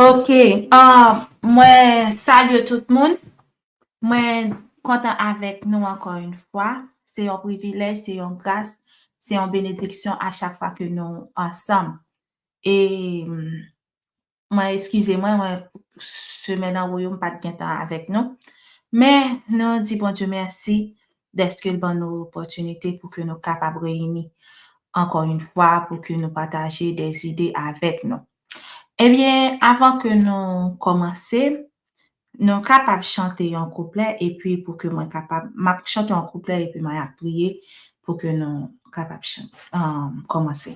Ok, mwen salye tout moun, mwen kontan avèk nou ankò yon fwa, se yon privilèj, se yon gras, se yon benediksyon a chak fwa ke nou ansanm. E mwen eskize mwen, mwen semen nan woyou m pat gentan avèk nou. Men nou di Bondye mèsi dèske l ban nou opòtinite pou ke nou kapab reyini ankò yon fwa pou ke nou pataje de zide avèk nou. Ebyen, avan ke nou kòmanse, nou kapab chante yon kouplè epi pou ke mwen kapab, m ap chante yon kouplè epi mwen ap priye pou ke nou kapab kòmanse.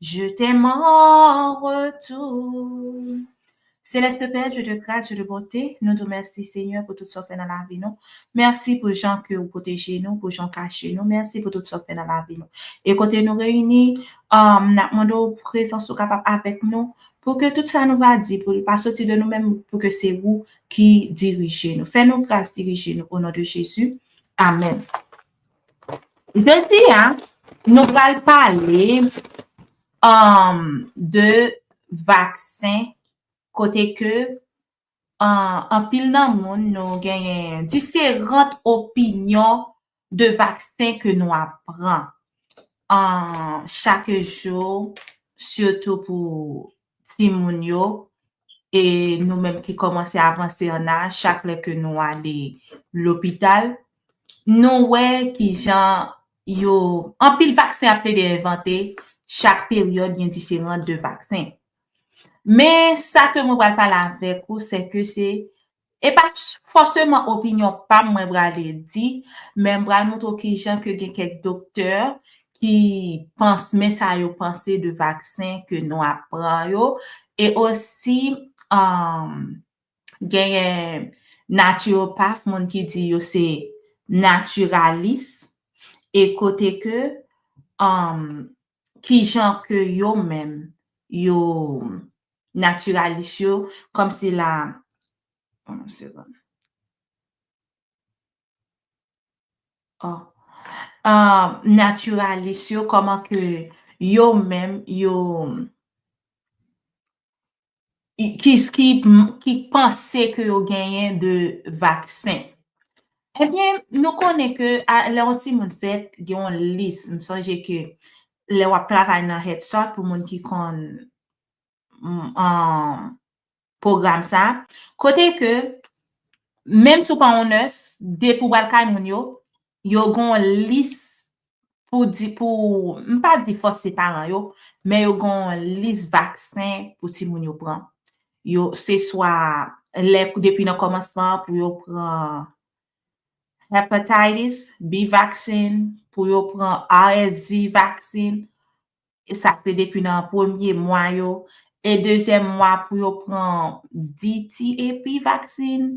Je t'aime en retour. Céleste Père, Dieu de grâce, Dieu de bonté, nou di w mèsi Senyè pou tout sa w fè nan lavi nou. Mèsi pou jan ke ou pwoteje nou, pou jan w kache nou. Mèsi pou tout sa w fè nan lavi nou. E kote nou reyini, um, nap mande w prezans ou kapab avèk nou, pou ke tout sa nou va di, pou l pa soti de nou menm, pou ke se ou ki dirije nou. Fè nou gras, dirije nou, o non de Jezi. Amèn. Jodi a, nou pral pale um, de vaksen kote ke um, anpil nan moun nou genyen diferant opinyon de vaksen ke nou ap pran um, chak jou, sitou pou timoun yo e nou menm ki kòmanse avanse an aj chak lè ke nou ale lopital nou wè kijan yo anpil vaksen ap plede envante chak peryòd gen diferan de vaksen men sa ke mwen pral pale avèk ou se ke se E pa fòseman opinyon pa m mwen prale di, men m pral montre w ki jan ke gen kèk doktè ki panse men sa yo panse de vaksen ke nou ap pran yo, e osi genyen natiròpaf, moun ki di yo se natiralis, e kote ke ki jan ke yo menm yo natiralis yo kòm si la yon segonn oh natiralis yo kòman ke yo menm yo. ki panse ke yo genyen de vaksen. Ebyen, nou konnen ke lè yon timoun fèt, gen yon lis. M sonje ke lè w ap travay nan Head Start, pou moun ki konn pwogram sa, kote ke menm si w pa yon nès, depi w al kay moun yo, yo gen yon lis pou di pou, m pa di fòse paran yo, men yo gen yon lis vaksen pou timoun yo pran. Yo, se swa lè depi nan kòmansman an pou yo pran Hepatitis B vaksin, pou yo pran RSV vaksin, e sa se depi nan premye mwa yo, e dezyèm mwa pou yo pran DTAP vaksin,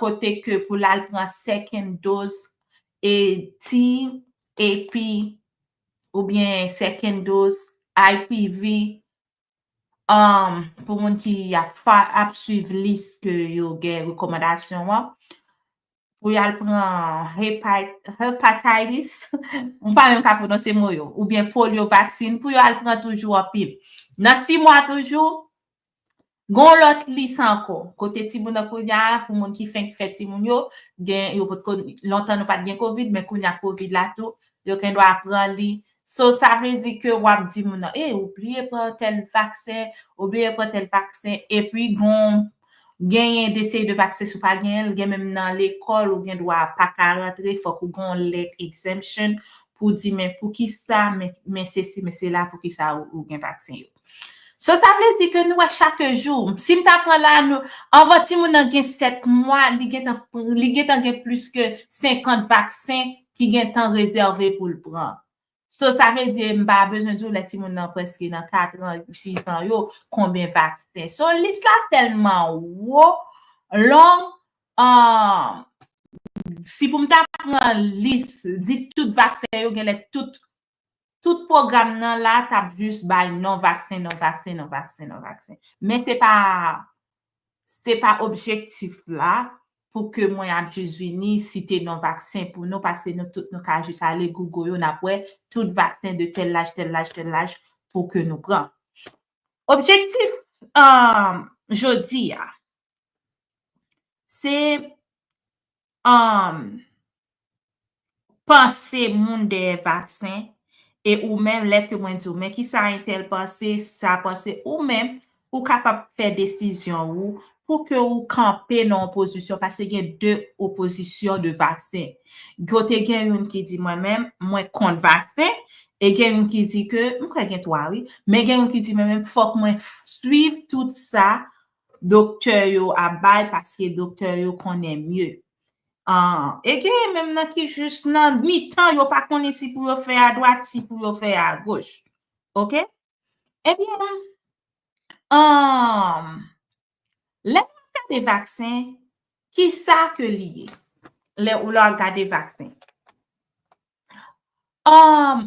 kote ke pou lal pran second dose e ti epi ou byen second dose IPV pou moun ki ap swiv lis ke yo gen rekomandasyon an pou yal pran hepatitis m pa menm ka prononse mo yo ou byen polio vaksin pou yo al pran toujou anpil nan 6 mwa toujou Gen yon lòt lis ankò kote timoun nan kounya pou moun ki fenk fè timoun yo gen yo potko lontan nou pat gen covid men kounya covid la tou yo gendwa pran li so sa vle di ke wap di moun nan ey ou bliye pran tèl vaksen ou bliye pran tèl vaksen epi gon genyen de seri de vaksen si w pa genyen l gen menm nan lekòl ou gendwa paka rantre fòk ou gen yon lèt exemption pou di men poukisa men sesi men sela poukisa ou gen vaksen yo. So sa vle di ke nou wè chak jou, si m ta pran la, anvan timoun nan gen 7 mwa, li gentan li gentan gen plis ke 50 vaksen ki gentan rezève pou l pran. So sa vle di m pa bezwen di w lè timoun nan prèske nan 4 an, 6 an yo, konbyen vaksen. So lis la tèlman wo, long, si pou m ta pran lis, di tout vaksen yo genlè tout Tout pwogram nan la tap jis bay non vaksen, non vaksen, non vaksen, non vaksen. Men se pa, se pa objektif la pou ke mwen ap jis vini site non vaksen pou nou pase nou tout nou ka jis ale Google yo nap wè tout vaksen de tèl laj, tèl laj, tèl laj pou ke nou pran. Objektif jodi a, se Humm panse moun dèyè vaksen e ou menm lè ke mwen diw men kisa entèl panse sa panse ou menm ou kapab fè desizyon ou pou ke ou kanpe nan yon pozisyon pase gen de opozisyon de vaksen yo te gen youn ki di mwen menm mwen kont vaksen e gen youn ki di ke m kwè gen 3 wi men gen youn ki di mwen menm fòk mwen swiv tout sa Doktè yo ap bay paske doktè yo konnen mye. Ahh e genyen menm nan ki jis nan mitan yo pa konnen si pou yo fè adwat si pou yo fè agoch. Ok. Ebyen ahh lè nou ap gade vaksen kisa ke li ye? Lè ou la gade vaksen. Ahh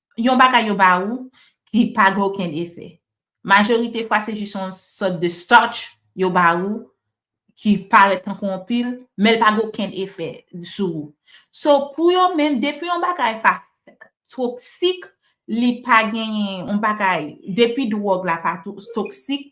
yon bagay yo ba ou ki pa gen okenn efè. Majorite fwa se jis yon sòt de starch yo ba ou ki parèt tankou yon pil, men l pa gen okenn efè sou ou. So, pou yo menm, depi yon bagay pa toksik, li pa genyen yon bagay, depi dwòg la pa toksik,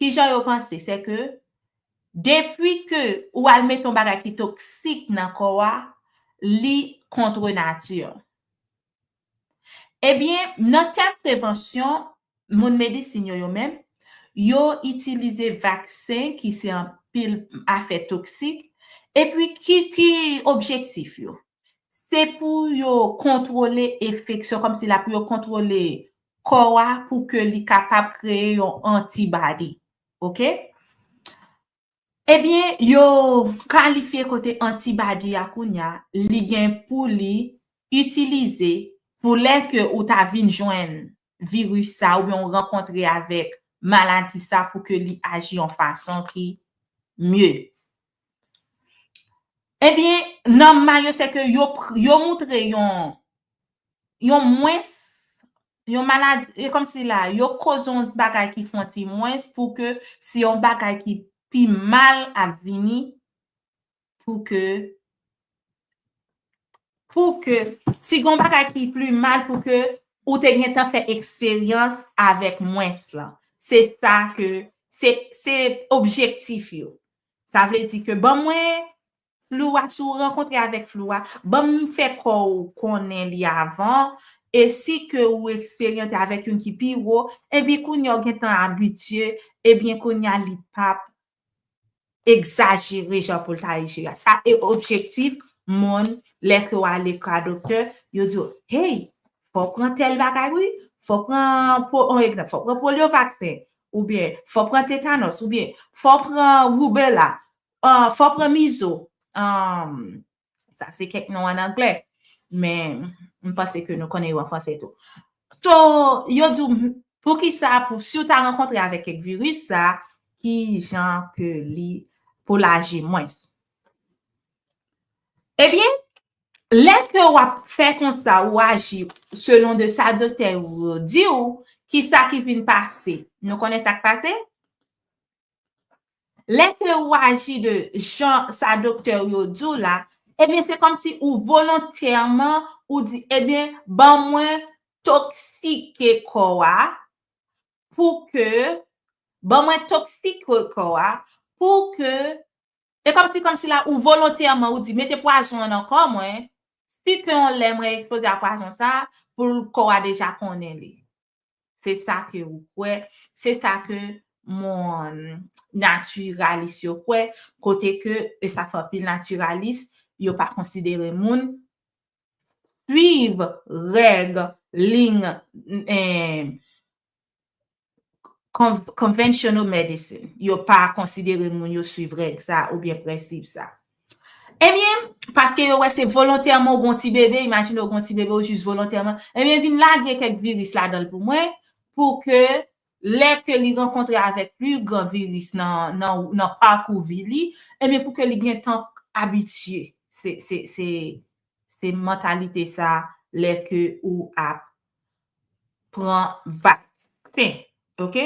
Kijan yo panse? Se ke depi ke ou al mete yon bagay ki toksik nan kò a, li contre nature. Ebyen, nan tèm prevansyon, moun medisin yo yo menm, yo itilize vaksen ki se anpil afè toksik, epi ki objektif yo? Se pou yo kontwole enfeksyon, kòmsi la pou yo kontwole kò a pou ke li kapab kreye yon antibody. Ok? Ebyen, yo kalifye kote antibody a kounya, li gen pou li itilize pou lè ke ou ta vin jwenn viris sa oubyen ou rankontre avèk maladi sa pou ke li aji yon fason ki mye. Ebyen, nan ma yo se ke yo moutre yon, yon mwens, yon maladi, e kòm si la, yo koz yon bagay ki fon ti mwens pou ke si yon bagay ki pi mal ap vini pou ke Pou ke, si gon bagay ki pli mal pou ke ou te gentan fè eksperyans avèk mwens lan. Se sa ke, se, se objektif yo. Sa vle di ke ban mwen flou a, si w rankontre avèk flou a, ban m fè kò w konnen li avan, e si ke ou eksperyante avèk youn ki pi wo, enben kounya ou gentan abitye, ebyen kounya li pap egzajere jan pou l ta eji a. Sa e objektif moun lè ke w ale ka doktè, yo di w, hey, fò w pran tèl bagay wi, fò w pran, on egzanp, fò w pran polyo vaksen, oubyen fò w pran tetanòs, oubyen fò w pran roubela, fò w pran mizo, Sa se kèk non an anglè. Men, m panse ke nou konnen yo an franse tou. So, yo di w, pou ki sa, si w ta rankontre avèk kèk viris sa, ki jan ke li pou l aji mwens. Ebyen, eh lè ke w ap fè konsa, ou aji selon de sa doktè yo di w, ki sa ki vin pase? Nou konnen sa k pase? Lè ke ou aji de jan sa doktè ou yo di w la, ebyen se kòmsi ou volontèman ou di, ebyen ban mwen toksike kò a pou ke, ban mwen toksike kò a pou ke, e kòmsi kòm si la ou volontèman ou di mete pwazon an nan kò mwen, si ke yon lè mwen ekspoze a pwazon sa, pou kò a deja konnen li. Se sa ke ou kwè, se sa ke moun natiralis yo kwè, kote ke e sa fè anpil natiralis, yo pa konsidere moun, swiv règ ling konvensyonal medicine. Yo pa konsidere moun yo swiv règ sa oubyen prensip sa. Ebyen, paske yo wè se volontèman ou gon ti bebe, imajine ou gon ti bebe ou jis volontèman, ebyen vin lage kèk viris ladan l pou mwen pou ke lè ke li rankontre avèk pli gran viris nan pakou vi li, ebyen pou ke li gen tan abitye. Se mantalite sa lè ke ou ap pran vaksen. Ok?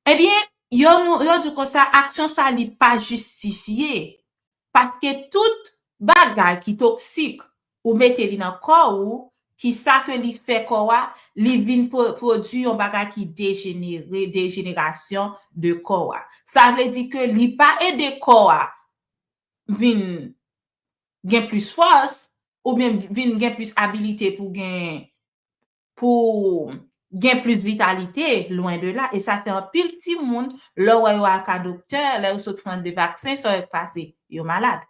Ebyen, yo nou, yo di w konsa, aksyon sa li pa jistifye, paske tout bagay ki toksik, ou mete li nan kò ou, ki sa ke li fè kò a, li vin pwodui yon bagay ki dejenere, dejenerasyon de kò a. Sa vle di ke li pa ede kò a vin gen plis fòs, oubyen vin gen plis abilite pou gen, pou gen plis vitalite, lwen de la, e sa fè anpil timoun, lè ou wè yo al ka doktè, lè yo sot pran 2 vaksen, sa yo k pase? Yo malad.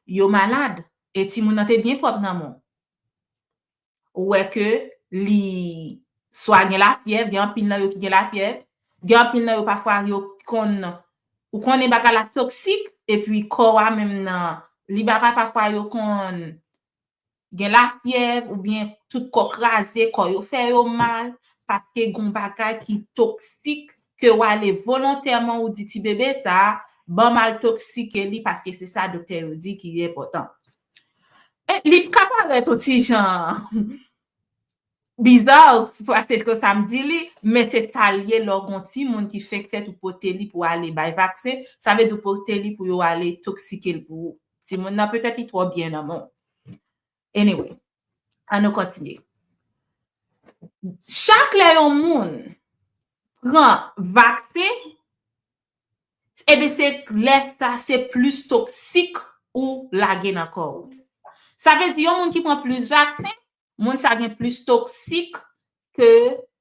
Yo malad, e timoun nan te byen pwòp nan men w. Ou wè ke li swa gen lafyèv, gen anpil nan yo ki gen lafyèv, gen anpil nan yo pafwa yo konn, ou konnen bagay la toksik, epi kò a menm nan, li bagay pafwa yo konn gen lafyèv oubyen tout kò kraze, kò yo fè yo mal, paske gon bagay ki toksik ke w ale volontèman ou di ti bebe sa a, ban m al toksike li paske se sa doktè yo di ki enpòtan. Li ka parèt on ti jan Bizarre paske se sa m di li, men se sa l ye lè w gen yon timoun ki fenk fèt ou pote li pou ale bay vaksen, sa vle di ou pote li pou yo ale toksike l pou ou. Timoun nan petèt li twò byen nan men w. Anyway, an nou kontinye. Chak lè yon moun pran vaksen, enben se lè sa se plis toksik ou lage nan kò ou. Sa vle di yon moun ki pran plis vaksen, Moun sa gen plis toksik ke,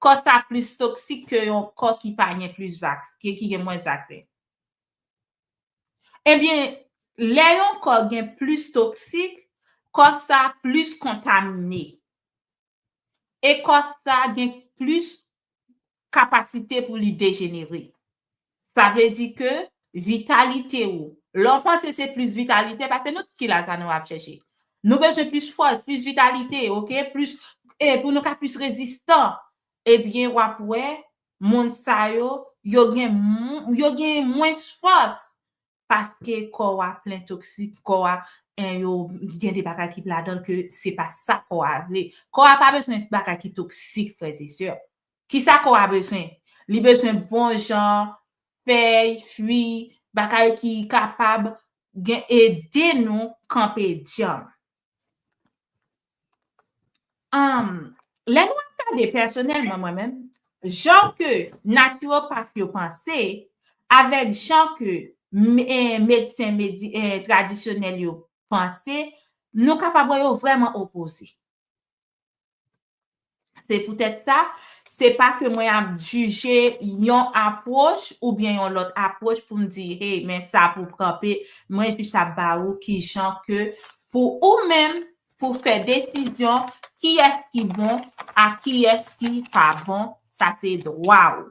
kò sa plis toksik ke yon kò ki pa gen plis vaks, ki gen mwens vaksen. Ebyen, lè yon kò gen plis toksik, kò sa plis kontamine. E kò sa gen plis kapasite pou li dejenere. Sa vle di ke vitalite ou, lè w panse se plis vitalite, paske nou tout ki la sa nou ap chèche. Nou bezwen plis fòs, plis vitalite, ok, plis, e pou nou ka plis rezistan, ebyen w ap wè moun sa yo, yo gen, yo gen mwens fòs paske kò w a plen toksik, kò w a en yo gen de bagay ki ladan l ke se pa sa kò a vle. Kò a pa bezwen bagay ki toksik frèz e sè. Kisa kò a bezwen? Li bezwen bon jan fèy, fwi, bagay ki kapab gen ede nou kanpe dyanm. Lè nou ap gade pèsonèlman mwen menm, jan ke naturopath yo panse, avèk jan ke medsen tradisyonèl yo panse, nou kapab wè yo vrèman opoze. Se poutèt sa, se pa ke mwen ap jije yon apwòch oubyen yon lòt apwòch pou m di, hey, men sa pou w kanpe, mwen jis ap ba ou ki jan ke pou ou menm pou fè desizyon kiyès ki bon ak kiyès ki pa bon, sa se dwa ou.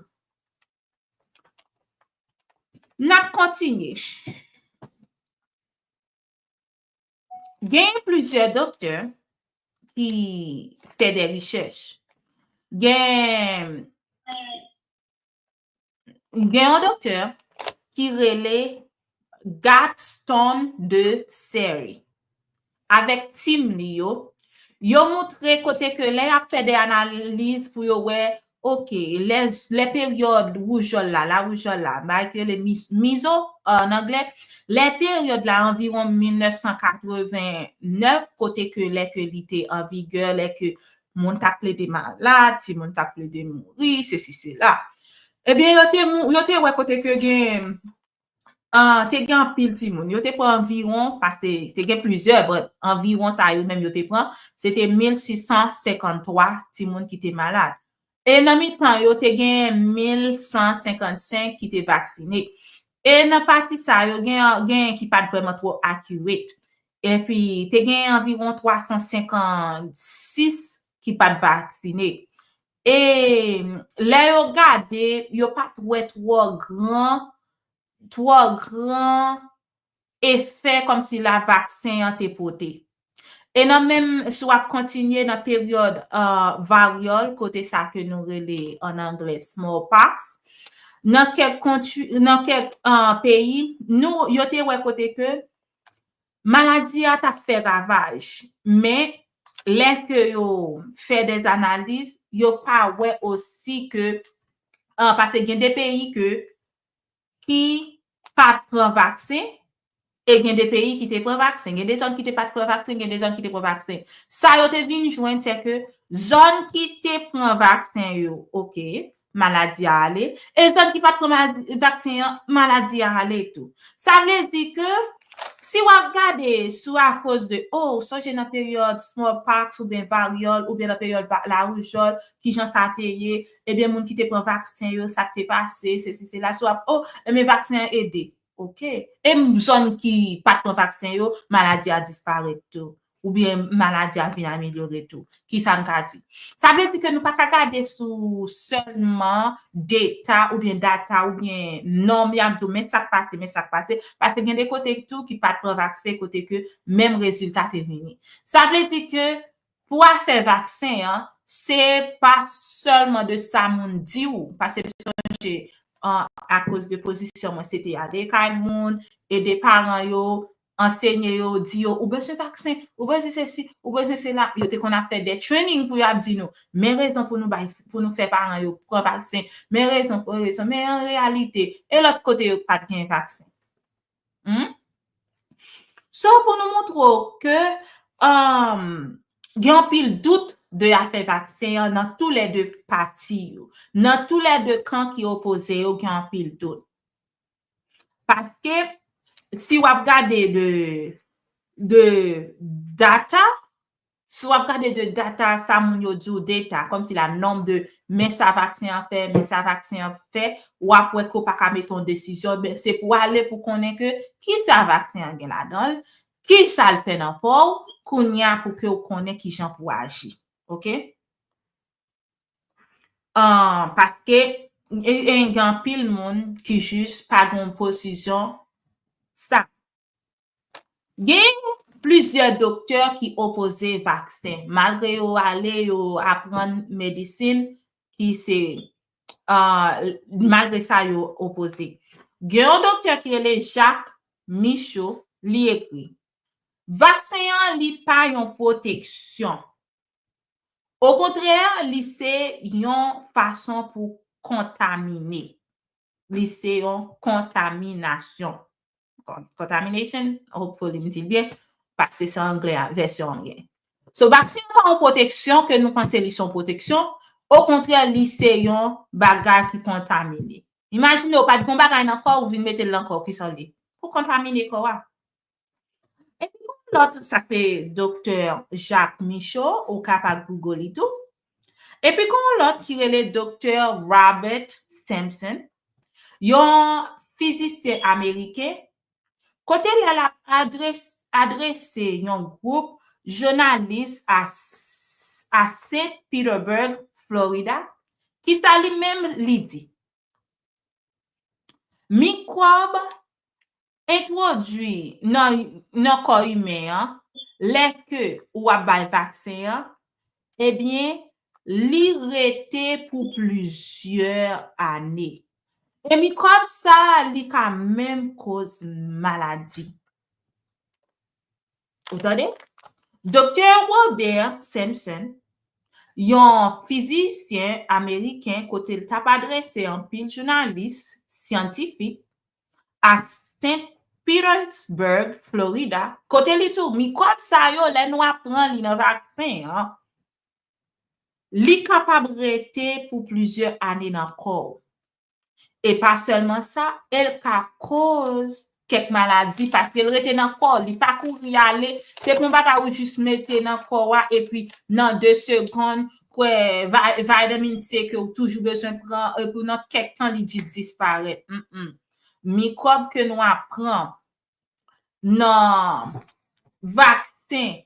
N ap kontinye. Genyen plizyè doktè ki fè de richèch. Gen yon doktè ki rele Gatston de Seri. Avèk tim li yo, yo moutre kote ke lè y ap fè de analiz pou yo wè Ok, lè peryòd woujòl la, lawoujòl la, bagay ki rele mizo an anglè, lè peryòd la anviwon 1989, kote ke lè ke li te an vigè, lè ke moun t ap plede malad, timoun t ap plede mouri, sesi sela. Ebyen yo te wè kote ke gen Te gen anpil timoun. Yo te pran anviwon, pase, te gen plizyè, but anviwon sa yo menm yo te pran, se te 1,653 timoun ki te malad. E nan mitan yo, te genyen 1,155 ki te vaksine. E nan pati sa yo, gen, genyen ki pa t vrèman twò accurate. Epi, te genyen anviwon 356 ki pa t vaksine. E lè yo gade, yo pa t wè twò gran, twò gran efè kòmsila vaksen an te pote. E nan menm, si w ap kontinye nan peryòd varyòl, kote sa ke nou rele an anglè smallpox, nan kèk peyi, nou, yo te wè kote ke Maladi a ta fè ravaj, men lè ke yo fè des analiz, yo pa wè osi ke, an pase gen de peyi ke ki pat pran vaksen, e gen de peyi ki te pran vaksen. Gen de zòn ki te pat pran vaksen, gen de zòn ki te pran vaksen. Sa yo te vin jwenn se ke zòn ki te pran vaksen yo, ok, Maladi a ale. E zòn ki pat pran vaksen an, maladi a ale tou. Sa vle di ke, si wap gade sou akoz de, o, ou sonje nan peryòd smallpox oubyen varyòl oubyen nan peryòd laroujòl, kijan sa te ye, ebyen moun ki te pran vaksen yo, sak te pase, sesi sela, si wap, o, ebyen vaksen an ede. Ok. E zòn ki pat pran vaksen yo, maladi a disparèt tou. Oubyen maladi a vin amelyore tou. Kisa n ka di? Sa vle di ke nou pa ka gade sou sèlman deta oubyen data oubyen nonm y ap di w men sa k pase, men sa k pase. Paske gen de kote tou ki pa t pran vaksen kote ke menm rezilta te vini. Sa vle di ke pou afè vaksen an, se pa sèlman de sa moun di w. Pase m sonje akoz de pozisyon mwen se te ale kay moun, ede paran yo, Ansenye yo, di yo, ou bezwen vaksen, ou bezwen sesi, ou bezwen sela. Yo te konn ap fè de training pou yo ap di nou, men rezon pou nou bay, pou nou fè paran yo pran vaksen, men rezon, men rezon. Men an reyalite, e lòt kote yo k pa t gen vaksen? Hum? So, pou nou montre w ke um gen anpil dout de afè vaksen an nan tou lè de pati yo. Nan tou lè de kan ki opoze yo gen anpil dout. Paske, si w ap gade de data, si w ap gade de data sa moun yo di w data, kòm si la nonm de men sa vaksen an fè, men sa vaksen an fè, w ap wè ke w pa ka mete yon desizyon, men se pou w ale pou konnen ke ki sa vaksen an gen ladan l, ki sa l fè nan kò w, kounye a pou ke w konnen ki jan pou w aji. Ok? Paske gen anpil moun ki jis pa gen yon pozisyon stab. Gen plizyè doktè ki opoze vaksen. Malgre yo ale, yo aprann medisin ki se malgre sa yo opoze. Gen yon doktè ki rele Jacques Michaud, li ekri, Vaksen an li pa yon pwoteksyon. Okontrè, li se yon fason pou kontamine. Li se yon kontaminasyon. Contamination, hopefully m di l byen, paske se anglè a, vèsyon anglè. So, vaksen an pa yon pwoteksyon ke nou panse li se yon pwoteksyon, okontrè li se yon bagay ki kontamine. Imajine ou pa t gen yon bagay nan kò ou vin mete l nan kò w, kisa w li? Ou kontamine kò a. Epi yon lòt, sa se doktè Jacques Michaud, ou ka pa Google li tou. Epi gen yon lòt ki rele doktè Robert Sampson, yon fizisyen ameriken, kote lè l ap adrese yon gwoup jounalis a Saint Petersburg, Florida, ki sa li menm li di, Mikwòb Entwodui nan kò imen an, lè ke ou ap bay vaksen an, ebyen, li rete pou plizyè ane. E mikwòb sa a, li ka menm koz maladi. Ou tande? Doktè Robert Simpson, yon fizisyen ameriken kote l t ap adrese anpil jounalis syantifik, a St. Petersburg, Florida, kote li di w mikwòb sa yo lè nou ap pran li nan vaksen an, li kapab rete pou plizyè ane nan kò w. E pa sèlman sa, e l ka koz kèk maladi paske l rete nan kò w, li pa kouri ale, se pa yon bagay ou jis mete nan kò w a epi nan 2 segonn Kwè vitamin C ke ou toujou bezwen pran e pou nan kèk tan li jis disparèt. Humm. Mikwòb ke nou ap pran nan vaksen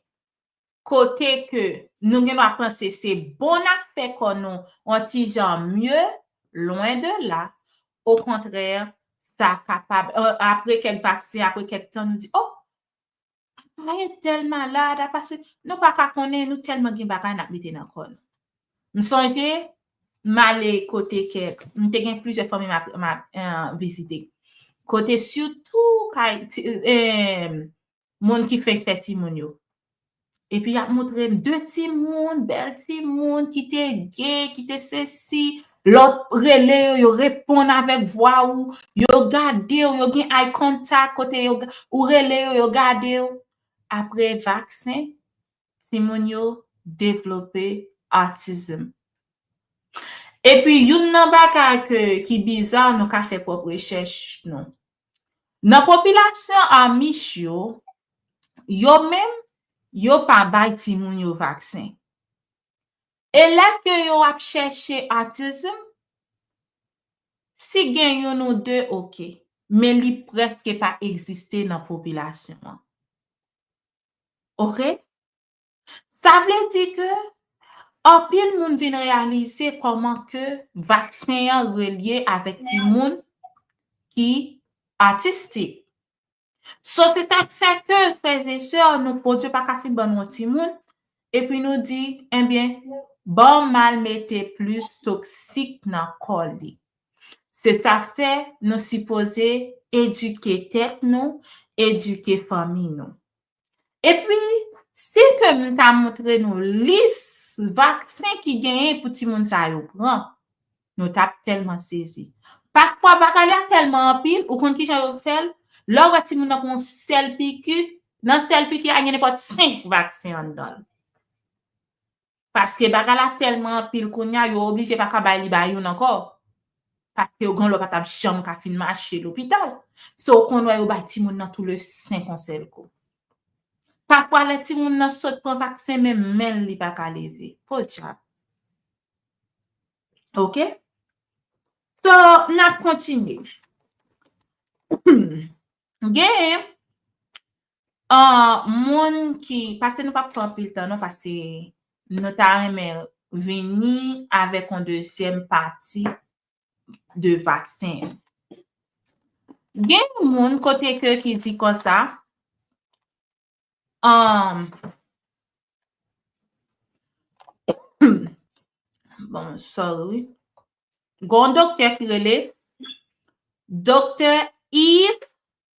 kote ke nou gen dwa panse se bon n ap fè kò nou on ti jan mye, lwen de la. O kontrè, sa kapab, apre kèk vaksen, apre kèk tan nou di, oh! Aparèt tèl malad, apa se, nou pa ka konnen, nou tèlman gen bagay n ap mete nan kò n. M sonje, m ale kote kèk, m te gen plizyè fanmi m ap, m ap vizite. Kote sitou kay ti, moun ki fenk fè timoun yo. Epi y ap montre m de timoun, bèl timoun ki te ge, ki te sesi, Lè w rele yo, yo reponn avèk vwa ou, yo gade w, yo gen eye contact kote yo, ou rele yo, yo gade w. Apre vaksen, timoun yo devlope autism. Epi youn nan bagay ke ki biza nou ka fè pwòp rechèch nou. Nan popilasyon Amish yo, yo menm yo pa bay timoun yo vaksen. E lè ke yo ap chèche autism, si gen youn ou de ok, men li prèske pa egziste nan popilasyon an. Ok? Sa vle di ke anpil moun vin reyalize kòman ke vaksen an relye avèk timoun ki autistic. So se sa k fè ke frèzesè nou Bondye pa ka fin ban nou yon timoun epi nou di enbyen banm mal mete plis toksik nan kò li. Se sa k fè nou sipoze edike tèt nou, edike fanmi nou. E pi, si ke m ta montre nou lis vaksen ki genyen pou timoun sa yo pran, nou t ap tèlman sezi. Pafwa, bagay la tèlman anpil, ou konn ki jan yo fè l? Lè w wè timoun nan pran yon sèl piki, nan sèl piki a gen nenpòt senk vaksen anndan l. Paske bagay la tèlman anpil kounya yo oblije pa ka bay li ba youn ankò. Paske yo gen yon lò pa tap janm ka fin mache lopital. So ou konn wè yo bay timoun nan tou le 5 yon sèl kou. Pafwa lè timoun nan sot pran vaksen menm men l li pa ka leve. Podyab. Ok. So nap kontinye. Gen Ahh moun ki pase nou pap fè anpil tan non pase nou ta renmen vini avèk yon dezyèm pati de vaksen an. Gen yon moun kote ke ki di konsa ahh bon sorry wi gon doktè ki rele doktè Yves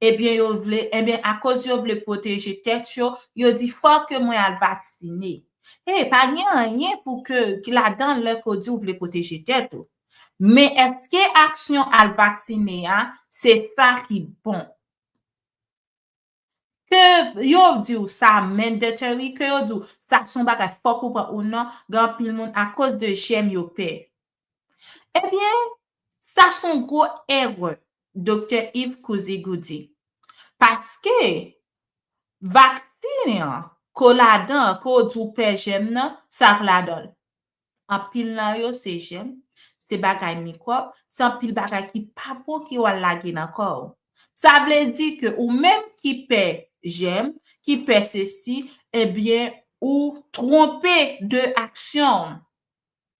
Ebyen yo vle, enben akoz yo vle pwoteje tèt yo, yo di fò ke mwen al vaksine. Hey, pa gen anyen pou ke, ki ladan lè ke w di ou vle pwoteje tèt ou. Men eske aksyon al vaksine a, se sa ki bon? Ke yo di w sa mandatory, ke yo di w sa son bagay fòk ou pran ou nan, gen anpil moun akoz de jèm yo pè. Ebyen, sa son gwo erè, Doktè Yves Couzigou di. Paske, vaksin an, ko ladan, ko di ou pè jèm nan, sa k ladan l? Anpil nan yo se jèm, se bagay mikwòb, se anpil bagay ki pa bon ke w al lage nan kò w. Sa vle di ke ou menm ki pè jèm, ki pè sesi, ebyen ou twonpe de aksyon w.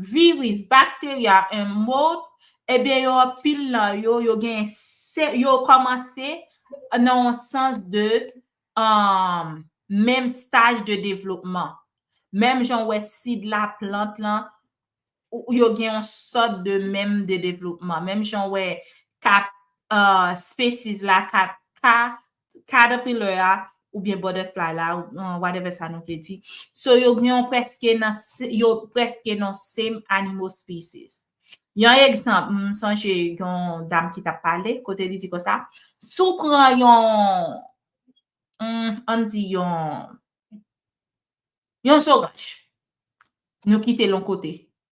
Viris, bakteria, en mot, ebyen yo anpil nan yo, yo gen se, yo kòmanse nan yon sans de menm staj de devlopman. Menm jan ou wè sid la, plant lan, yo gen yon sòt de menm de devlopman. Menm jan ou wè kat species la, kat ka caterpillar a oubyen butterfly la whatever sa nou vle di so yo gen yon preske nan yo preske nan same animal species yon egzanp m sonje yon dam ki tap pale kote li di konsa sou pran yon an di yon yon soranj nou kite lon kote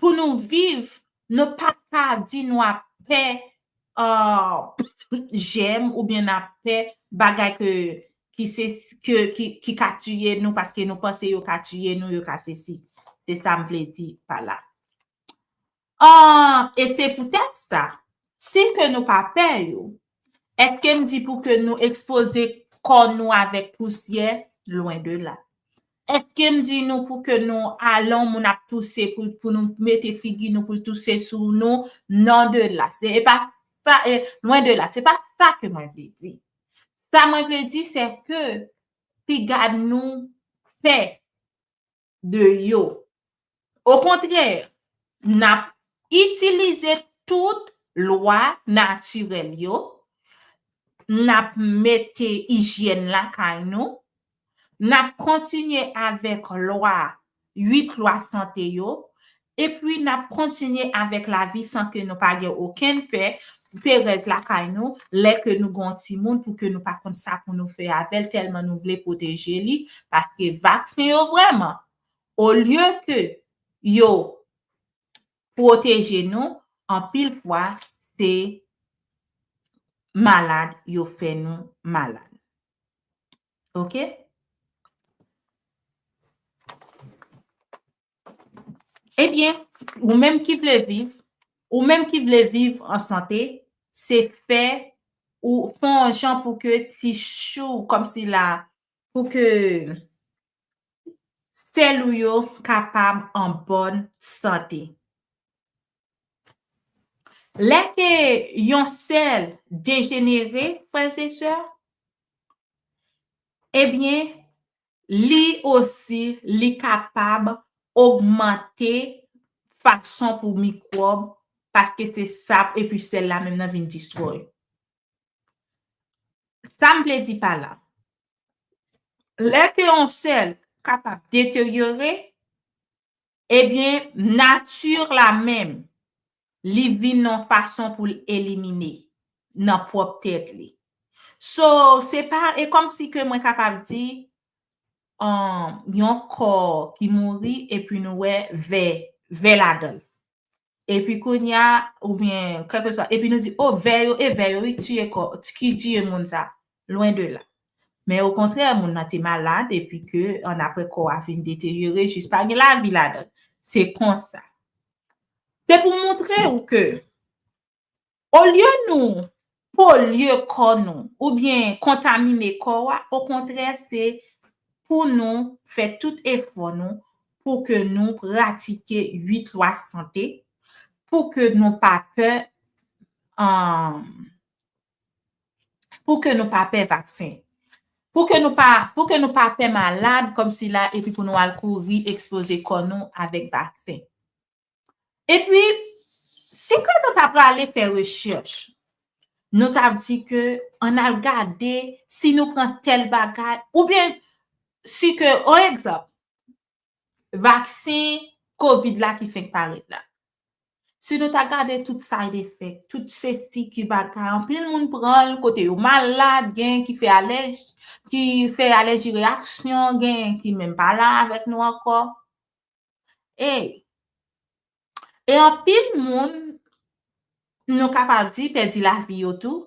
pou nou viv, nou pa ka di nou ap pè jèm oubyen n ap pè bagay ki ka tiye nou paske nou panse yo ka tiye nou, yo ka sesi. Se sa m vle di pa la. E se poutèt sa, si ke nou pa pè yo, èske m di pou ke nou ekspoze kò nou avèk pousyè? Lwen de la. Èske m di nou pou ke nou alon moun ap touse pou nou mete figi nou pou l touse sou nou? Non de la. E pa sa, lwen de la. Se pa sa ke mwen vle di. Sa mwen vle di, se ke piga nou pè. de yo. Okontrè, n ap itilize tout lwa natirèl yo, n ap mete ijyèn lakay nou, n ap kontinye avèk lwa, uit lwa sante yo, Epi n ap kontinye avèk lavi san ke nou pa gen okenn pè, perèz lakay nou, lè ke nou gen yon timoun pou ke nou pa konn sa pou nou fè avè l tèlman nou vle pwoteje li, paske vaksen yo vrèman, olye ke yo pwoteje nou, anpil fwa se malad yo fè nou malad. Ok. Ebyen, ou menm ki vle viv, ou menm ki vle viv an sante, se fè ou fè yon jan pou ke ti chou kòm si la, pou ke sèl ou yo kapab an bòn sante. Lè ke yon sèl dejenere, frè e sè, ebyen, Li osi, li kapab ogmante fason pou mikwòb, paske se sa epi sèl la menm nan vin destroy. Sa m vle di pa la, lè ke yon sèl kapab deteryore, Ebyen, nature la menm, li vin yon fason pou l elimine nan pwòp tèt li. So, se pa, e kòm si ke mwen kapab di, yon kò ki mouri epi nou wè ve, ve ladan l. Epi kounya oubyen kèlkeswa epi nou di oh vè yo e vè yo wi tiye kò ki tiye moun sa lwen de la men okontrè moun nan te malad epi ke annapre kò a vin deteryore jis pa gen lavi ladan l se konsa se pou moutre ou ke Olye nou polye kò nou oubyen kontamine kò a, okontrè se Pou nou fè tout efò nou Pou ke nou pratike 8 lwa sante Pou ke nou pa pè um Pou ke nou pa pè vaksen Pou ke nou pa Pou ke nou pa pè malad kòmsi la epi Pou nou al kouri ekspoze kò nou avèk vaksen. Epi, si ke nou ta prale fè rechèch, nou ta ap di ke an al gade si nou pran tèl bagay, oubyen si ke, on egzanp, vaksen kovid la ki fenk parèt la. Si nou ta gade tout side effect, tout sesi, ki bagay, anpil moun pran l, kote yo malad, gen ki fè alèji, ki fè alèji reyaksyon, gen ki menm pa la avèk nou ankò. Ey! E anpil moun nou kapab di pèdi lavi yo tou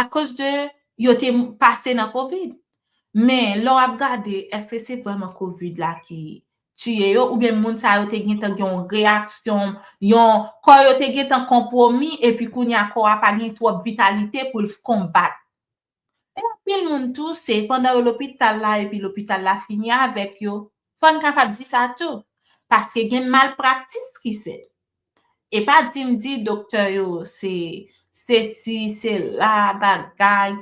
akoz de yo te pase nan covid. Men lè w ap gade èske se vrèman covid la ki tiye yo oubyen moun sa yo te gentan gen yon reyaksyon, yon kò yo te gentan konpwomi epi kounye a kò a pa gen twòp vitalite pou l konbat Pou anpil moun tou, se pandan yo lopital la epi lopital la fini avèk yo, fò n kapab di sa tou, paske gen malpraktis ki fèt. E pa di m di doktè yo se sesi, sela, bagay,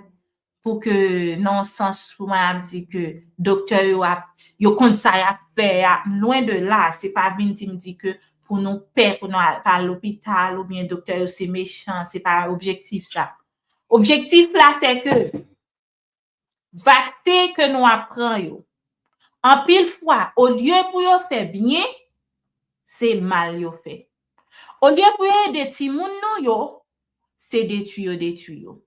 pou ke nan yon sans pou mwen ap di ke doktè yo ap, yo konn sa y ap fè a, lwen de la, se pa vin di m di ke pou nou pè pou nou al pa lopital oubyen doktè yo se mechan, se pa objektif sa. Objektif la se ke vaksen ke nou ap pran yo, anpil fwa olye pou yo fè byen, se mal yo fè. Olye pou yo ede timoun nou yo, se detui yo detui yo.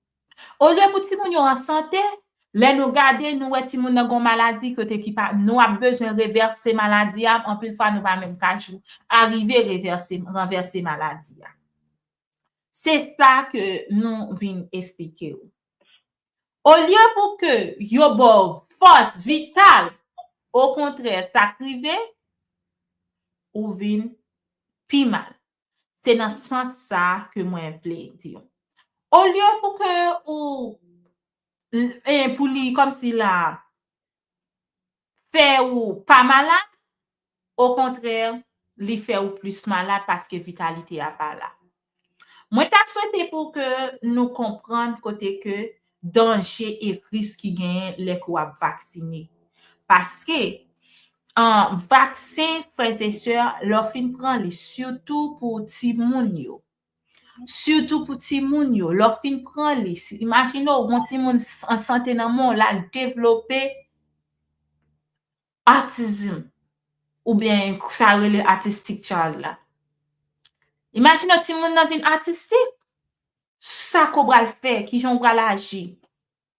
Olye pou timoun yo an sante, lè nou gade nou wè timoun nan gen yon maladi kote ki pa, nou ap bezwen revèse maladi a, anpil fwa nou pa menm ka jou arive revèse, ranvèse maladi a. Se sa ke nou vin esplike ou. Olye pou ke yo ba w fòs vital, okontrè sa k rive, ou vin pi mal. Se nan sans sa ke mwen vle di ou. Olye pou ke ou, pou li kòmsi la, fè ou pa malad, okontrè li fè ou plis malad paske vitalite a pa la. Mwen ta swete pou ke nou konprann kote ke danje e risk ki genyen lè ke w ap vaksine. Paske, vaksen frèzesè lè w fin pran li sitou pou timoun yo, Sitou pou timoun yo, lè w fin pran li, imajine w gon timoun an sante nan men w la devlope Autism oubyen sa yo rele Autistic child la. Imajine w timoun nan vin Autistic, sa ke w pral fè, kijan w pral aji.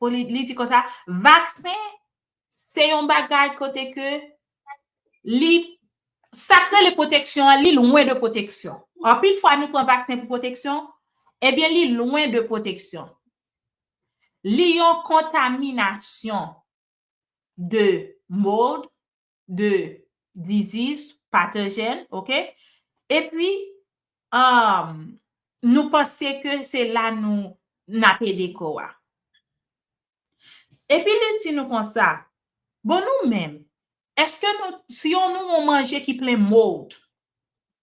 pou li li di konsa, vaksen se yon bagay kote ke li sa k rele pwoteksyon an, li lwen de pwoteksyon. Anpil fwa nou pran vaksen pou pwoteksyon, ebyen li lwen de pwoteksyon. Li yon kontaminasyon de mold, de disease pathogen ok epi um nou panse ke se la nou n ap ede kò a epi li di nou konsa bon nou menm eske nou si yon nou yon manje ki plen mold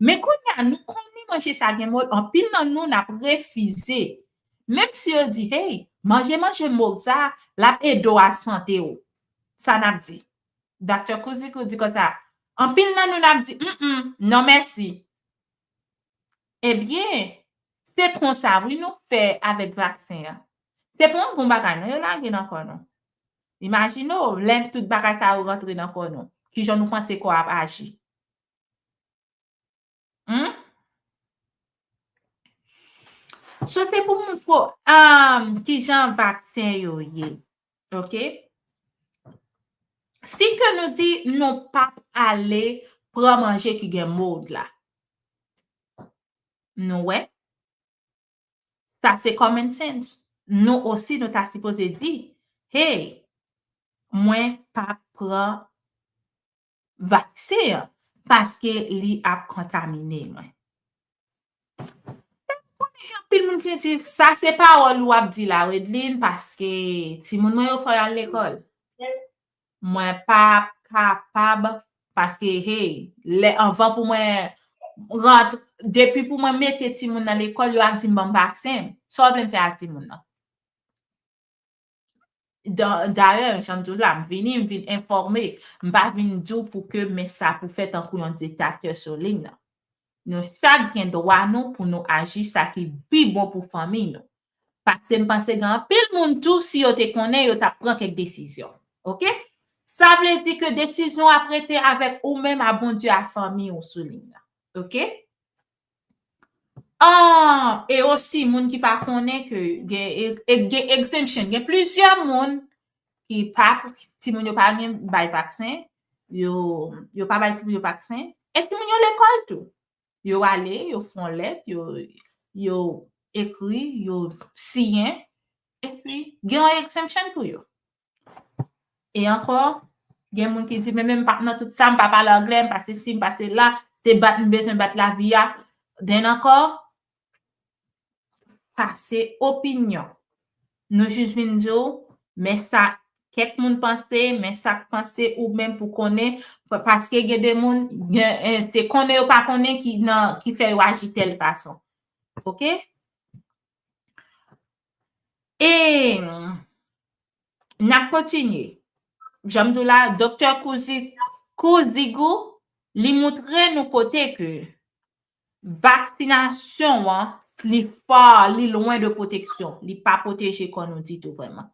Men kounye a nou konnen manje sa gen mòd anpil nan nou nap refize menm si yo di hey manje manje mòd sa lap edew a sante w sa nap di Doctor Kouzikou di konsa anpil nan nou nap di humm non mèsi ebyen se konsa wi nou fè avèk vaksen an se pa yon bon bagay non yo lage nan kò nou imajine w lè tout bagay sa yo rantre nan kò nou kijan nou panse kò a ap aji. Humm. So se pou moun pou amm ki jan vaksen yo ye. Ok. Si ke nou di nou pa ale pran manje ki gen mold la. Nou we. Sa se common sense. Nou osi nou ta sipoze di. Hey. Mwen pa pran. vaksen an paske li ap kontamine mwen. Mwen konnen gen anpil moun ki di sa se pawòl ou ap di la Wedeline paske timoun mwen yo fò yo al lekòl. Mwen pa kapab paske hey lè anvan pou mwen rantre depi pou mwen mete timoun nan lekòl yo ap di m ban m vaksen. Sa w vle m fè ak timoun nan? Dayè, jan m di w la, m vini, m vin enfòme. M pa vin di w pou ke men sa pou fè tankou yon diktatè sou liy nan. Nou chak gen dwa nou pou nou aji sa ki pi bon pou fanmiy nou. Paske m panse gen anpil moun tou, si yo te konnen, yo t ap pran kèk desizyon. Ok? Sa vle di ke desizyon ap rete avèk oumenm a Bondye a fanmiy ou sou liy nan. Ok? Ahh e osi moun ki pa konnen ke gen exemption gen plizyè moun ki pa pou timoun yo pa gen bay vaksen yo pa bay timoun yo vaksen e timoun yo lekòl tou yo ale yo fon lèt yo ekri yo siyen epi gen yon exemption pou yo. E ankò, gen moun ki di, men men m pa nan tout sa, m pa pale angle, m pa se si, m pa se la, se bat m bezwen bat lavi a. Den ankò, sa se opinyon. Nou jis vin di w, men sa kèk moun panse, men sa k panse ou menm pou konnen, paske gen de moun, se konnen yo pa konnen ki fè yo aji tèl fason. Ok? E n ap kontinye. Jan m di w la, doktè Kouzigou, li moutre nou kote ke vaksinasyon an, li far, li lwen de pwoteksyon. Li pa pwoteje kò nou ditou vrèman.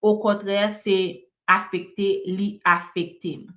Okontrè, se afekte, li afekte nou.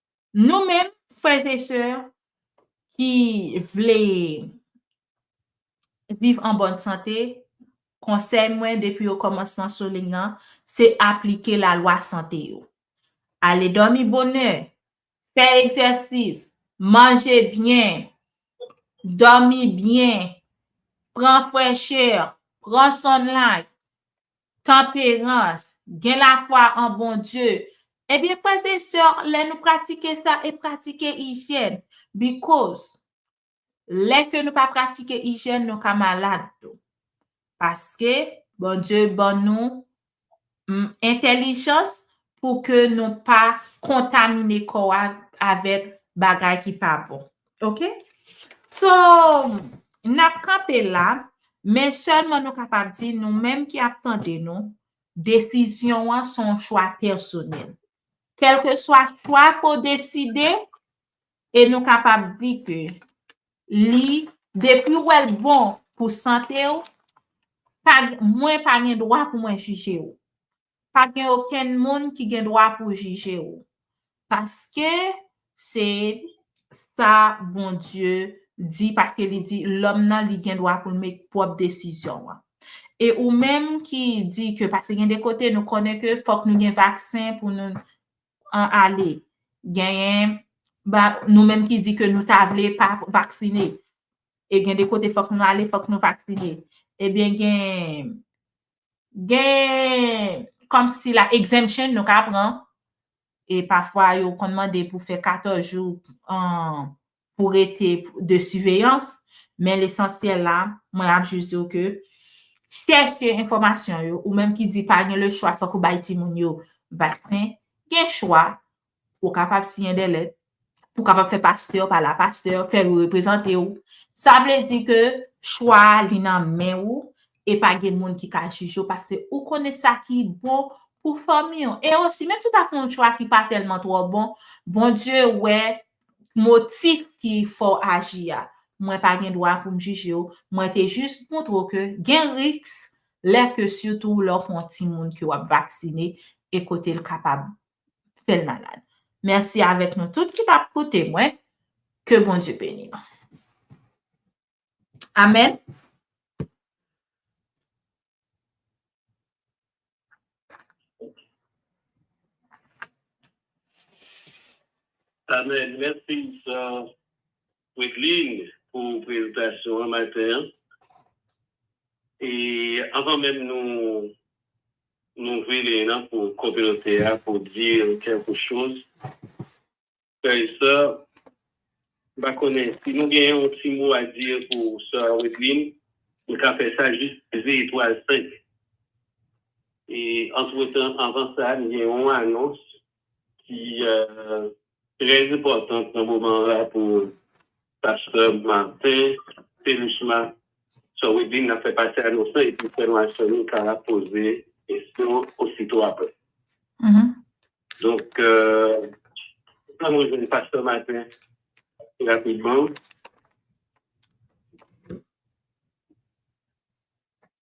Nou menm, frères et sœurs, ki vle viv an bòn sante, konsèy mwen depi o kòmansman sou ling nan, se aplike lalwa sante yo. Ale dòmi bonè, fè egzèsis, manje byen, dòmi byen, pran frèchè, pran sunlight, Tanperans, Gen lafwa an Bondye. Ebyen frèz e sè, lè nou pratike sa e pratike ijyèn. Bikoz, lè ke nou pa pratike ijyèn nou ka malad tou. Paske, Bondye ban nou m entèlijans pou ke nou pa kontamine kò a avèk bagay ki pa bon. Ok? So, n ap kanpe la, men sèlman nou kapab di nou menm ki ap tande nou, desizyon an se yon chwa pèsonèl. Kèlke swa chwa ke w deside, e nou kapab di ke li, depi w wè l bon pou sante w, pa, mwen pa gen dwa pou mwen jije w. Pa gen okenn moun ki gen dwa pou jije ou, paske se sa Bondye di, paske li di lòm nan li gen dwa pou l met pwòp desizyon l. E ou menm ki di ke paske gen de kote nou konnen ke fòk nou gen vaksen pou nou ale, genyen nou menm ki di ke nou ta vle pa vaksine, e gen de kote fòk nou ale, fòk nou vaksine, ebyen gen Gen kòm si la exemption nou ka pran. E pafwa yo konn mande pou fè 14 jou pou rete de siveyans. Men lesansyèl la, mwen ap jis di w ke chèche enfòmasyon yo. Ou menm ki di pa gen lechwa fòk ou bay timoun yo vaksen. Gen chwa Ou kapab siyen de lèt. Ou kapab fè pastè pa la pastè, fè yo reprezante ou. Sa vle di ke chwa a li nan men ou e pa gen moun ki ka jije ou paske ou konnen sa ki bon pou fanmi ou. E osi, menm si ou ta fè yon chwa ki pa tèlman twò bon, Bondye wè motif ki fè w aji a. Mwen pa gen dwa pou m jije ou. Mwen te jis montre w ke gen risk lè ke sitou lè w pran yon timoun ke w ap vaksine e kote l kapab fèl malad. Mèsi avèk nou tout ki tap koute mwen. Ke Bondye beni nou. Amen. Amen. Mèsi sa. Wideline pou prezentasyon an maten an. E anvan menm nou louvri liy lan pou kominote a pou di kèlke choz, frè e sè, m pa konnen si nou gen yon ti mo a di pou sè Wideline, nou ka fè sa jis peze etwal 5. E antretan, anvan sa, m gen yon anons ki trè enpòtant nan moman an la pou pastè Martin Théluchma Sorwedin nan fè pati anons lan epi frè nou ak sè nou ka poze kesyon osito aprè. Donk, ann rejwenn pastè Martin rapidman.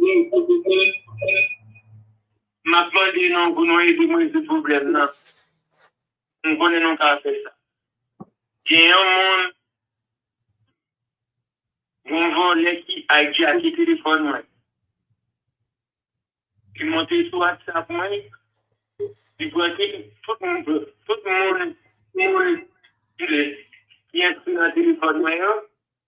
Mwen pou di mwen map mande nou pou nou ede mwen rezoud pwoblèm nan. M konnen nou ka fè sa. Gen yon moun yon vòlè ki aijake telefòn mwen. Li monte sou whatsapp mwen li pran tout moun tout moun ki enskri nan telefòn mwen yo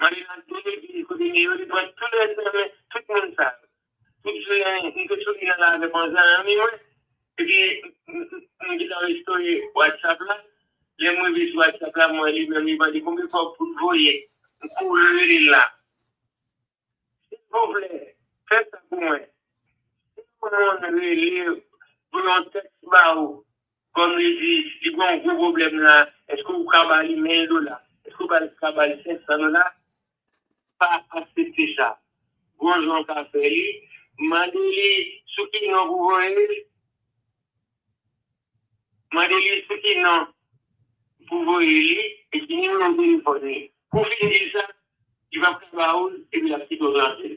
Marianne te vini kote Neo, li pran tou lèd nan men tout moun sa yo. Tout jounen, m te sou li nan lave kon zanmi mwen. Epi, m te ka restore WhatsApp la. Lè m rive sou WhatsApp la, m wè li menm li mande konbyen kòb pou l voye. M kouri rele l la. Silvouplè, fè sa pou mwen. Si yon moun rele ou pou yon tèks ba ou, Kòm li di, li gen yon gwo pwoblèm la, èske ou ka ba li 1000 dola? Èske ou ka ba li 500 dola? Pa aksepte sa. Bon jan w ka fè li, mande li sou ki non pou voye l, mande li sou ki non pou voye li e ki nimewo telefòn li. Kou w fin di l sa, li p ap ka ba ou l epi l ap kite w tranke l.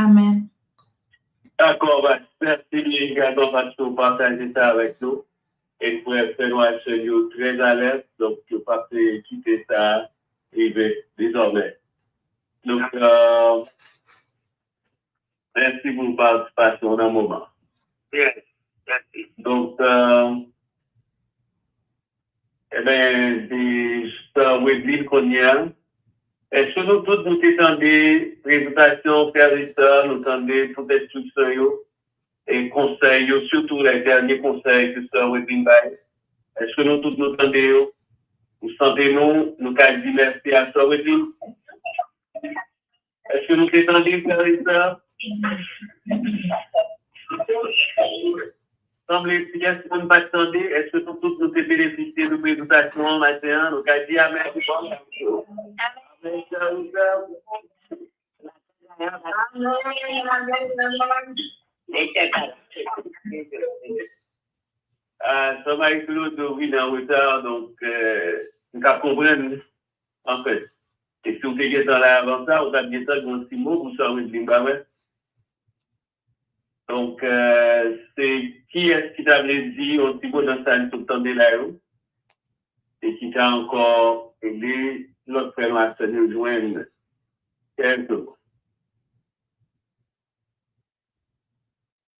Amen. Dakò past mèsi egalman paske ou pataje sa avèk nou e frè frè nou ak sè nou yo trè alèz donk yo pap kite sa rive dezòmè donk mèsi pou patisipasyon ou nan moman donk Ebyen se sa Wedlin kounye a. Eske nou tout nou te tande prezantasyon frè Richard, nou tande tout enstriksyon yo e konsèy yo sitou lè dènye konsèy ke sè Wedlin bay? Eske nou tout nou tande yo? Nou sante nou nou ka di mèsi a sè Wedlin? Est-ce que nous t'es tendu, frères et sœurs? Sanble si gen si moun pat tande, est-ce que nou tout nou te benefisye de prezentasyon an maten an? Nou ka di amen. Amen, frères et sœurs. Ah, sa Marie Claude vin an retard, donc, nou ka konprann. Anfèt, e si w te gentan la avan sa, ou t ap gentan gen yon ti mo pou sa, Wideline, pa vre? Donk, se kiyès ki ta vle di yon ti mo nan sa li sot tande la yo e ki ka ankò ede lòt frè nou ak sè nou yo jwenn kèk mo?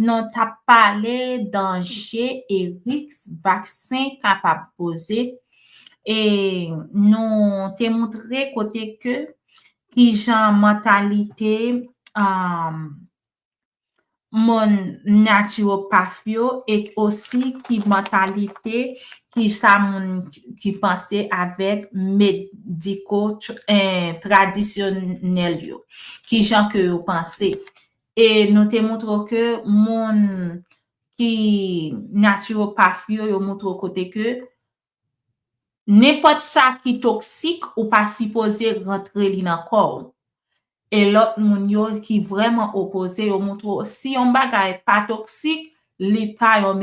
Nou t ap pale danje e riks vaksen kapab poze e nou te moutre kote ke ki jan mantalite moun natiròpath yo e osi ki mantalite ki sa moun ki panse avèk mediko tradisyonèl yo. Ki jan ke yo panse. E nou te moutre w ke moun ki naturopathe yo, yo moutre w kote ke nenpòt sa ki toksik ou pa sipoze rantre li nan kò w. E lòt moun yo ki vrèman opoze yo moutre w si yon bagay pa toksik, li pa yon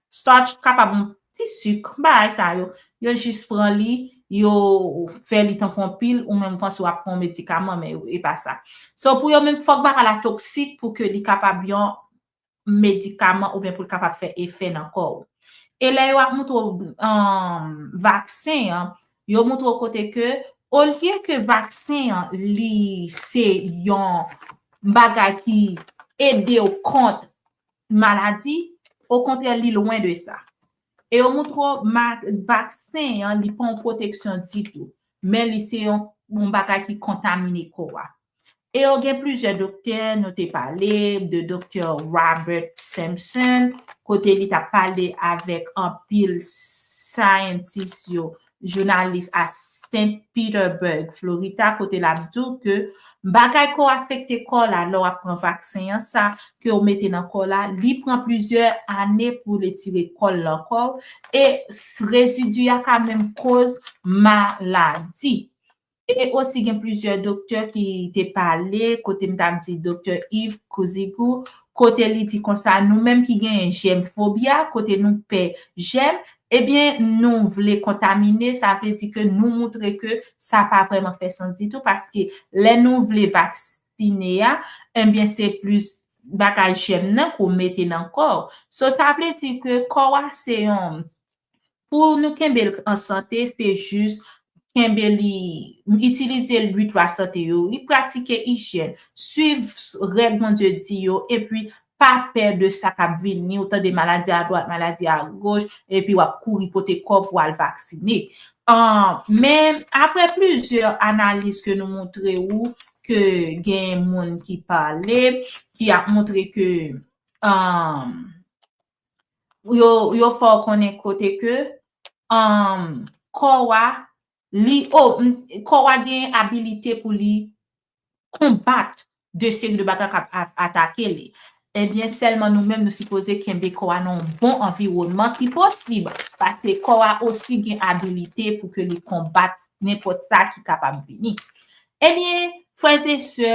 Starch kapab yon ti suk, bagay sa yo, yo jis pran li, yo fè li tankou yon pil, ou menm ou panse wap pran yon medikaman men e pa sa. So pou yo menm fok bagay la toksik pou ke li kapab yon medikaman ou byen pou li kapab fè efè nan kò ou. E lè yo ap moutre ou vaksen an, yo moutre ou kote ke olye ke vaksen an li se yon bagay ki ede ou kont maladi, okontrè li lwen de sa. E yo moutre w vaksen an li pa yon pwoteksyon ditou, men li se yon bagay ki kontamine kò a. E yo gen plizyè doktè, nou te pale de doktè Robert Simpson, kote li t ap pale avèk anpil scientist yo jounalis a St. Petersburg, Florita, kote lap di w ke bagay ke w afekte kò w la lè w ap pran vaksen an, sa ke w mete nan kò w la, li pran plizyè ane pou l etire kò l nan kò w, e rezidi a ka menm koz maladi. E osi gen plizyè doktè ki te pale kote m t ap di doktè Yves Couzigou kote li di konsa nou menm ki genyen jèm fobya kote nou pè jèm ebyen nou vle kontamine sa vle di ke nou moutre ke sa pa vrèman fè sans ditou paske lè nou vle vaksine a ebyen se plis bagay jèm nan ke w mete nan kò w so sa vle di ke kò w a se yon Pou nou kenbe l k an sante se jis kenbe li itilize l 8 lwa sante yo wi, pratike ijyèn, swiv règ Bondye di yo epi pa pè de sa k ap vini ou tande maladi a dwat maladi a goch epi w ap kouri pote kò w pou al vaksine an men aprè plizyè analiz ke nou montre ou ke gen moun ki pale ki ap montre ke an. yo fè w konnen kote ke kò w a, kò w a gen abilite pou li konbat de seri de bagay kap atake li. Ebyen sèlman nou menm nou sipoze kenbe kò a nan yon bon anviwònman ki posib. Pase kò a osi gen abilite pou ke li konbat nenpòt sa ki kapab vini. Ebyen frè e sè,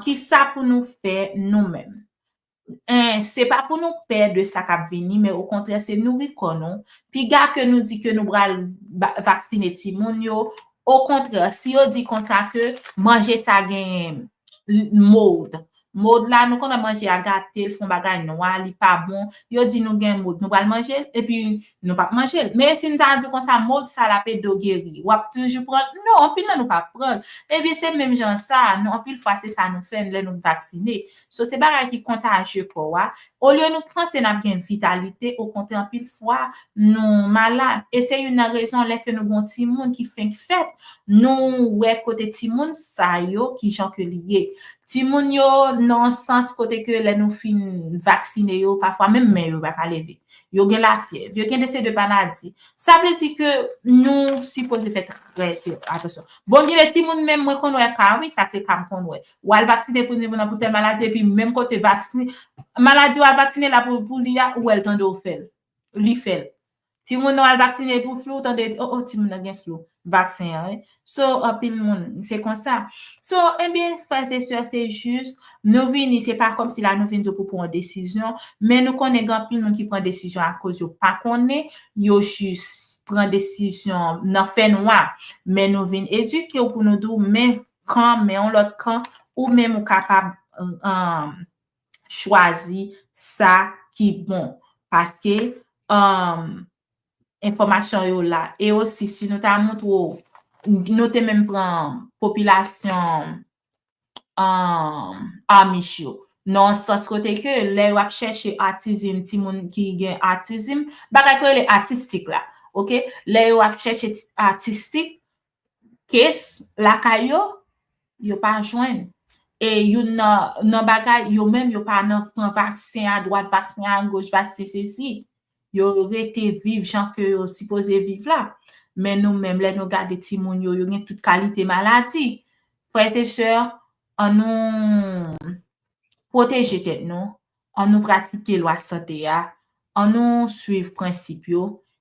kisa pou nou fè nou menm? 1 se pa pou nou pè de sa k ap vini men okontrè se nouri kò nou, piga ke nou di ke nou pral vaksine timoun yo, okontrè si yo di konsa ke manje sa gen mold, mold la nou konnen manje a gate, l fon bagay nwa, li pa bon, yo di nou gen mold nou pral manje l epi nou p ap manje l, men si nou ta di konsa mold sa l ap ede w geri w ap toujou pran l, non anpil nan nou p ap pran l, ebyen se menm jan sa nou anpil fwa se sa nou fè lè nou vaksine, So se bagay ki kontajye kò a, olye nou panse n ap gen vitalite, okontrè anpil fwa nou malad. E se youn nan rezon lè ke nou gen yon timoun ki fenk fèt, nou wè kote timoun sa yo ki jan ke li ye. Timoun yo nan yon sans kote ke lè nou fin vaksine yo, pafwa menm men yo pa ka leve. Yo gen lafyèv, yo gen de se de maladi. Sa vle di ke nou sipoze fè trè atansyon. Bon gen de timoun menm mwen konn wè ka wi, sa se ka m konn wè. Ou al vaksinen pou nivo nan pou tèl maladi epi menm kote vaksin maladi ou al vaksinen la pou li a ou wèl tande ou fèl li fèl timoun ou al vaksinen pou flou ou tande oh oh timoun nan gen flou vaksen an wi so anpil moun se konsa so ebyen frè se sè se jis nou vini se pa kòmsi la nou vin di ou pou pran yon desizyon men nou konnen gen anpil moun ki pran desizyon akoz yo pa konnen yo jis pran desizyon nan fè nwa men nou vin edike ou pou nou di ou men kan, men yon lòt kan, ou menm ou kapab chwazi sa ki bon. Paske, enfòmasyon yo la. E osi, si nou ta montre ou, nou te menm pran popilasyon Amish yo. Nan yon sans kote ke, lè yo ap chèche atizim, timoun ki gen atizim, bagay ki rele atistik la. Ok? Lè yo ap chèche atistik, kes lakay yo, yo pa jwenn. E youn nan nan bagay, yo menm yo pa nan pran vaksen a dwat, vaksen a goch, vaksen sesi. Yo rete viv jan ke yo sipoze viv la. Men nou menm, lè nou gade timoun yo, yo gen tout kalite maladi. Frè e sè, an nou pwoteje tèt nou, an nou pratike lwa sante a, an nou swiv prensip yo,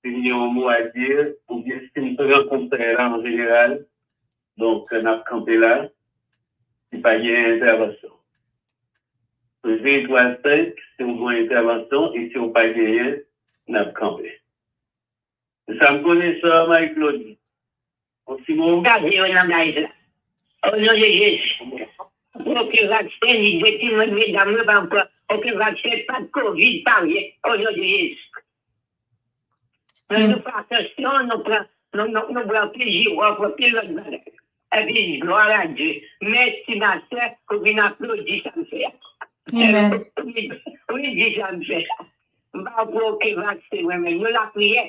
Si m gen yon mo a di oubyen si m pran konsèy la an jeneral, donk n ap kanpe la si pa gen entèvansyon. Premye twa senk si w gen entèvansyon e si w pa genyen n ap kanpe. Se sa m konnen sa Marie Claude. Gade yon langaj la. O non de Jezi. Oken vaksen li dwe di mwen medam mwen pa pran oken vaksen pat covid pa vre o non de Jezi. Mwen nou fè atansyon nou pran nou bwè anpil jiròf anpil lòt bagay. Epi glwa a Dye. Mèsi ma sè ou vin aplodi sa m fè a. Ou vin di sa m fè a. M pa pran oken vaksen mwen menm. Nou lapriyè.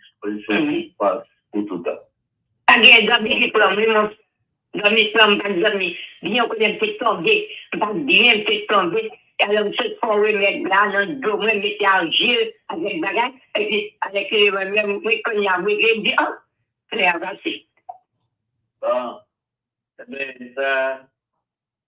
Dispozisyon ki pas pou tout an. Pa gen zanmi ki pranm wi mwen zanmi pranm pa gen zanmi byen konnen mte tonbe mpa byen mte tonbe alò msot pran remèd la nan dlo mwen mete argil avèk bagay epi avèk eleman mwen mwen konya mwen vle di an klè a pase. Bon ebyen sa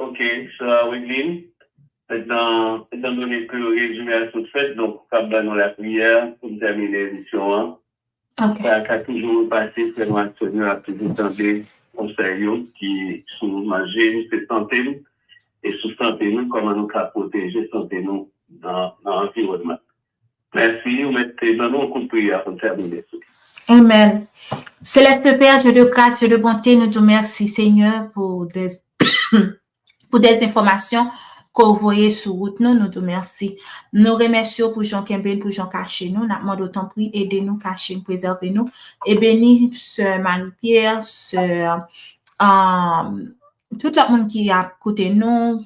Ok sè Wideline, etan etan done ke rezime a sot fèt donk ou kab ba nou lapriyè pou n tèmine emisyon an. Ok. Sa ka toujou repase frè nou ak sè nou yo ap toujou tande konsèy yo ki sou manje n se sante n e sou sante nou kòman nou ka pwoteje sante nou nan nan anviwònman. Mèsi, ou mèt te ban nou kout priyè a pou n tèmine sou li. Amen. Céleste Père, Dieu de grâce, Dieu de bonté, nou di w mèsi Senyè pou des pou des enfòmasyon ke w voye sou wout nou, nou di w mèsi. Nou remèsye w pou jan w kenbe n, pou jan w kache nou, n ap mande w tanpri ede nou, kache n, prezève nou e beni sè Marie Pierre, sè Tout lòt moun ki ap koute nou,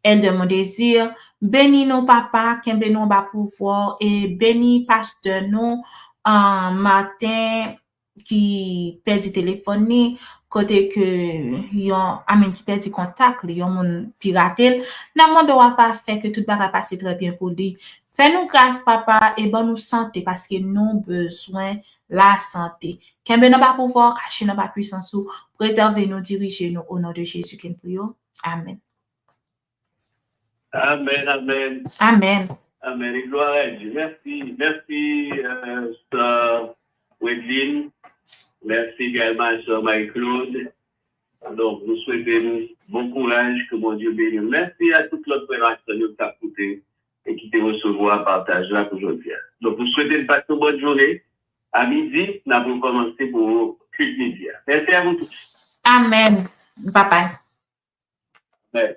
Elder Mondésir, beni nou papa, kenbe nou anba pouvwa w e beni pastè nou Martin ki pèdi telefòn ni kote ke yon I mean ki pèdi kontak li yon moun pirate l nan mande w apa fè ke tout bagay pase trè byen pou li Fè nou gras papa e ban nou sante paske nou bezwen la sante kenbe nan ba pouvwa w kache nan ba pwisans ou prezève nou dirije nou o non de Jezi ke n priye w amen. Amen amen. Amen. Amen et gloire à Dieu merci merci soeur Wedline merci également à soeur Marie Claude donc nou swete nou bon courage que Bondye beni nou merci à tout lòt frè ak sè nou ki tap koute e ki te resevwa pataj la pou jodi a. Donk m swete n pase yon bòn jounen. A midi, n ap rekòmanse pou Kilt Midi a. Mèsi a nou tous. Amen, Papa. Amen.